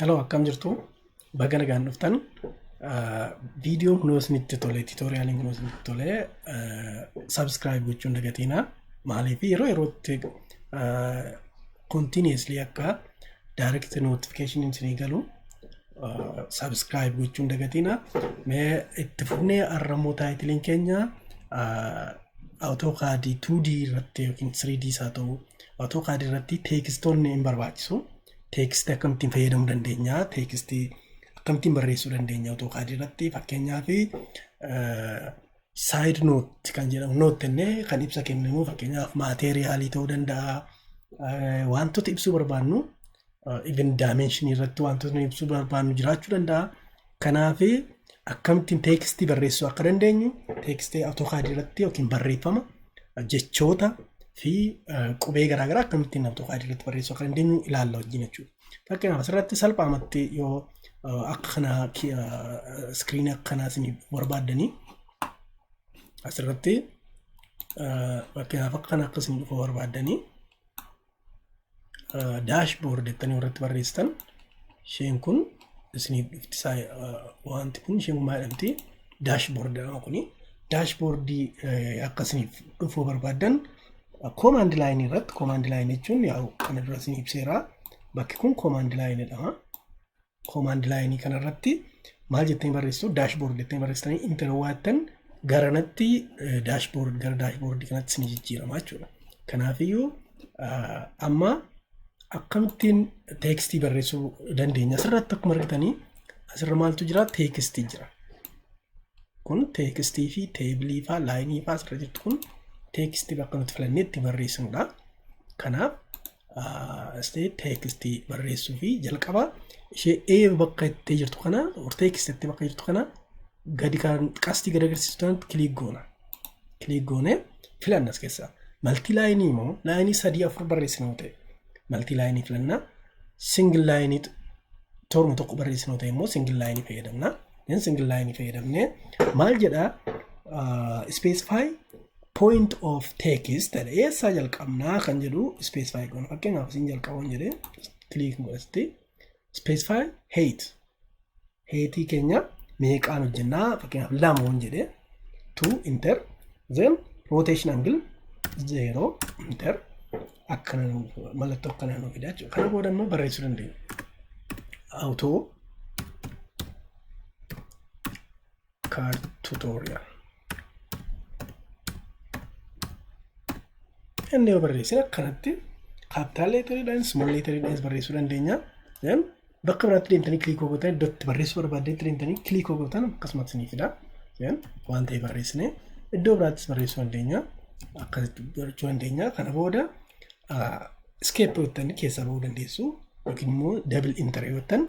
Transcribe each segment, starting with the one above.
Hello akkam jirtu baga nagaan dhuftan viidiyoon kunoo isinitti tole tiitooriyaaliin kunoo isinitti tole sabskiraayib gochuun dagatiina maaliif yeroo yerootti kontiiniyeeslii akka daayirekti nootifikeeshiniin isinii galu sabskiraayib gochuun dagatiina mee itti fufnee arrammoo taayitiliin keenya awutookaadii 2D irratti yookiin 3D isaa ta'u AutoCAD irratti teekistoonni hin barbaachisu. Teekistii akkamittiin fayyadamuu dandeenya? Teekistii akkamittiin barreessuu dandeenya AutoCAD irratti? Fakkeenyaaf saayid noot kan jedhamu noot jennee kan ibsa kenninu fakkeenyaaf maateeriyaalii ta'uu danda'a. Wantoota ibsuu barbaannu even dimension irratti wantoota nuyi ibsuu barbaannu jiraachuu danda'a. Kanaaf akkamittiin teekstii barreessuu akka dandeenyu teekstii AutoCAD irratti yookiin barreeffama jechoota fi qubee garaagaraa akkamittiin AutoCAD irratti barreessuu akka dandeenyu ilaalla wajjin jechuudha. Fakkeenyaaf asirratti salphaamatti yoo akka kanaa iskiriinii akka kanaa isin barbaaddanii asirratti fakkeenyaaf akka kana akka isin dhufu barbaaddanii daashboord jettanii irratti barreessitan isheen kun isiniif dhufti isaa wanti kun isheen maa jedhamti daashboord jedhama kuni daashboordii akka isiniif dhufuu barbaaddan koomaand laayinii irratti koomaand laayinii jechuun yaa'u kana dura isin ibseera bakki kun koomaand laayinii jedhama. Koomaand laayinii kanarratti maal jettanii barreessitu? Daashboord jettanii barreessitanii inter waattan garanatti daashboord gara daashboordii kanatti ni jijjiirama jechuudha. Kanaafiyyuu amma akkamittiin teekstii barreessuu dandeenya? Asirratti akkuma argitanii asirra maaltu jira? Teekstii jira. Kun teekstii fi teebilii faa laayinii faa asirra jirtu kun teekstii bakka nuti filannee itti barreessinudha. Kanaaf State text barreessuu fi jalqaba ishee A bakka itti jirtu kana or text itti bakka jirtu kana gadi kan qastii gadi agarsiisu tanatti kiliik goona. Kiliik goone filanna as keessaa. Maltii laayinii immoo laayinii sadii afur barreessina yoo ta'e maltii laayinii filanna. Singil laayinii torma tokko barreessina yoo ta'e immoo singil laayinii fayyadamna. Then singil laayinii fayyadamnee maal jedhaa specify point of text jedha eessaa jalqabnaa kan jedhu specify goona fakkeenyaaf isin jalqabuun jedhee click godhatti specify height heightii keenya meeqaan hojjennaa fakkeenyaaf lamoon jedhee two enter then rotation angle zero enter akkana mallattoo akkana nu fida jechuudha kana booda immoo barreessuu dandeenya auto card tutorial inni yoo barreessin akkanatti capital leeteriidhaan small leeteriidhaan barreessuu dandeenya then bakka biraatti deemtanii click gootanii iddoo itti barreessuu barbaaddeetti deemtanii click gootan akkasumas ni fida then waan ta'e barreessine iddoo biraattis barreessuu dandeenya akkasitti gochuu dandeenya kana booda Escape yoo jettan keessaa bahuu dandeessu yookiin immoo double enter yoo jettan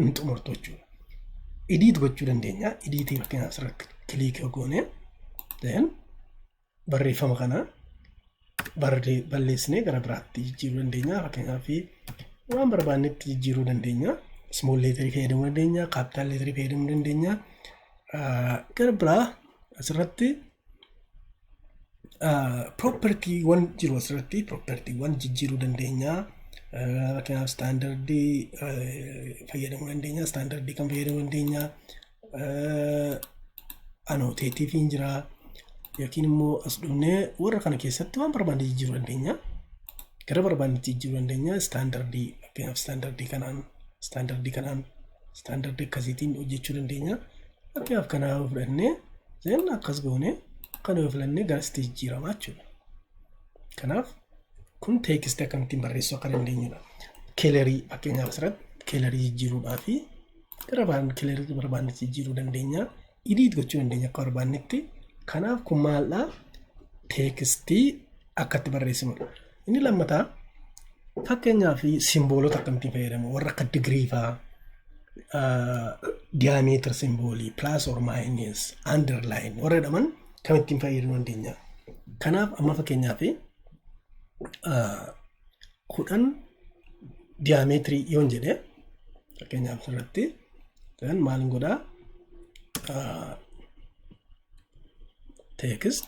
ni xumurtu jechuudha. Edit gochuu dandeenya. Edit yookiin asirratti click yoo goone then barreeffama kana barree balleessinee gara biraatti jijjiiruu dandeenya. Fakkeenyaaf waan barbaannetti jijjiiruu dandeenya. Small leeterii fayyadamuu dandeenya. Capital leeterii fayyadamuu dandeenya. Gara biraa asirratti Propertiiwwan jiru asirratti propertiiwwan jijjiiruu dandeenya. Fakkeenyaaf istaandardii fayyadamuu dandeenya. Istaandardii kan fayyadamuu dandeenya. Anooteetiifiin jira. Yookiin immoo as dhufnee warra kana keessatti waan barbaanne jijjiiruu dandeenya. Gara barbaannetti jijjiiruu dandeenya. Istaandardii fakkeenyaaf istaandardii kanaan istaandardii kanaan istaandardii akkasiitiin hojjechuu dandeenya. Fakkeenyaaf kana yoo fudhannee zeen akkas goone kana yoo filannee garasitti jijjiirama jechuudha. Kanaaf kun teekisti akkamittiin barreessuu akka dandeenyudha. Keelerii fakkeenyaaf asirratti keelerii jijjiiruudhaa fi gara baan keelerii barbaannetti jijjiiruu dandeenya. Idiit gochuu dandeenya akka barbaannetti. Kanaaf kun maaldhaa teekistii akka itti barreessinudha. Inni lammataa fakkeenyaa fi simboolota akkamittiin fayyadamu warra akka digirii fa'aa diyaameetir simboolii pilaas or maayinus andarlaayin warra jedhaman kamittiin fayyadamuu dandeenya. Kanaaf amma fakkeenyaa fi kudhan diyaameetirii yoon jedhe fakkeenyaaf asirratti kan maal godhaa teekist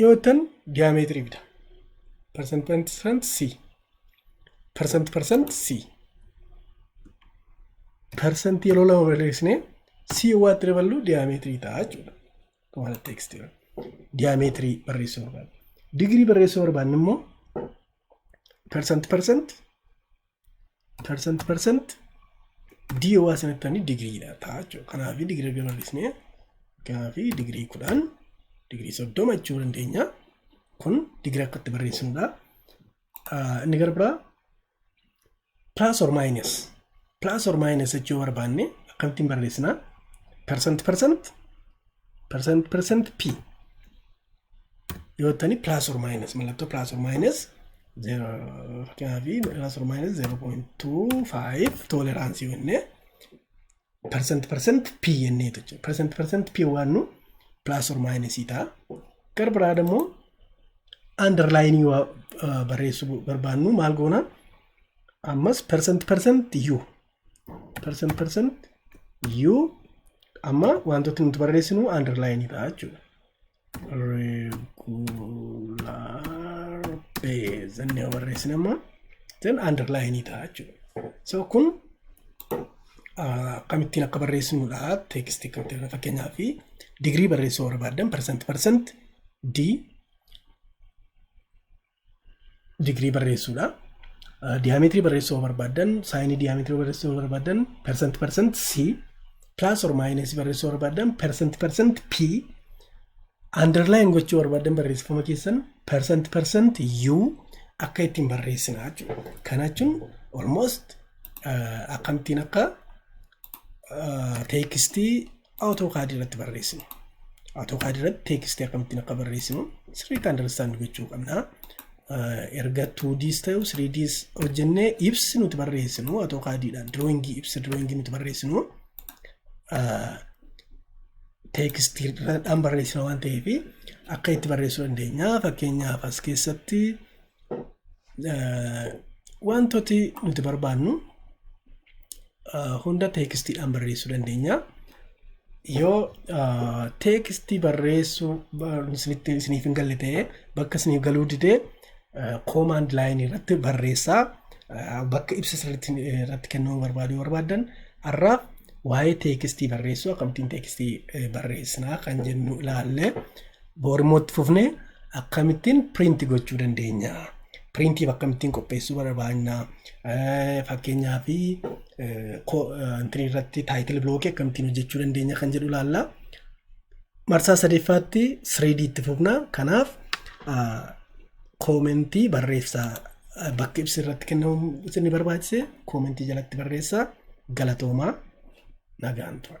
Yoo jettan diyaameetirii bita. Persent persent C. Persent persent C. Persent yeroo lama barreessine C waa itti daballu diyaameetirii ta'a jechuudha. Akkuma kana teekstii diyaameetirii barreessuu barbaadna. Digirii barreessuu barbaadne immoo persent persent Percent percent D yoo waa sanattanii digiriidha ta'a jechuudha. Kanaaf digirii erga bal'isnee kanaaf digirii kudhan digirii soddoma jechuu dandeenya. Kun digirii akka itti barreessinudha. Ah, Inni gara biraa plus or minus plus or minus jechuu barbaanne akkamittiin barreessina? Percent percent percent percent P yoo ta'ani plus or minus mallattoo plus or minus kanaafii plus or minus 0.25 toleraansii jennee percent percent p jennee jechuudha percent percent p waan nu plus or minus ta'a gara biraa immoo underline waa barreessuu barbaannu maal goona ammas percent percent u percent percent u amma wantoota nuti barreessinu underline ta'a jechuudha. Regular base jennee yoo barreessine amma then underline ta'a jechuudha. So kun akkamittiin akka barreessinudha text akkamitti fakkeenyaa fi digirii barreessuu barbaadan percent percent d digirii barreessuudha. Diyaameetirii barreessuu yoo barbaaddan saayinii diyaameetirii barreessuu yoo barbaaddan percent percent C plus or minus barreessuu yoo barbaaddan percent percent P underline gochuu barbaaddan barreessifama keessan percent percent U akka ittiin barreessina jechuudha. Kana jechuun almost akkamittiin akka teekstii AutoCAD irratti barreessinu. AutoCAD irratti teekstii akkamittiin akka barreessinu sirriitti understand gochuu qabna. Erga 2Ds ta'u 3Ds hojjennee ibsi nuti barreessinu AutoCADdhaan drawing ibsa drawing nuti barreessinu teekstiidhaan barreessina waan ta'eef akka itti barreessuu dandeenya. Fakkeenyaaf as keessatti Wantooti nuti barbaannu hunda teekistiidhaan barreessuu dandeenya. Yoo teekistii barreessuu isiniif hin galle ta'e bakka isiniif galuu didee koomaand laayinii irratti barreessaa bakka ibsa sirriitti irratti kennuu barbaaduu barbaaddan har'a waa'ee teekistii barreessuu akkamittiin teekistii barreessinaa kan jennu ilaallee Bor immoo itti fufnee akkamittiin print gochuu dandeenya? Printiif akkamittiin qopheessuu barbaanna? Eh, Fakkeenyaa fi intini irratti taayitil bilookii akkamittiin hojjechuu dandeenya kan jedhu ilaalla. Marsaa sadeffaatti 3D itti fufna. Kanaaf ah, koomentii barreessaa Ah, bakka ibsi irratti kennamu isin ni barbaachise koomentii jalatti barreessaa galatoomaa nagaan tura.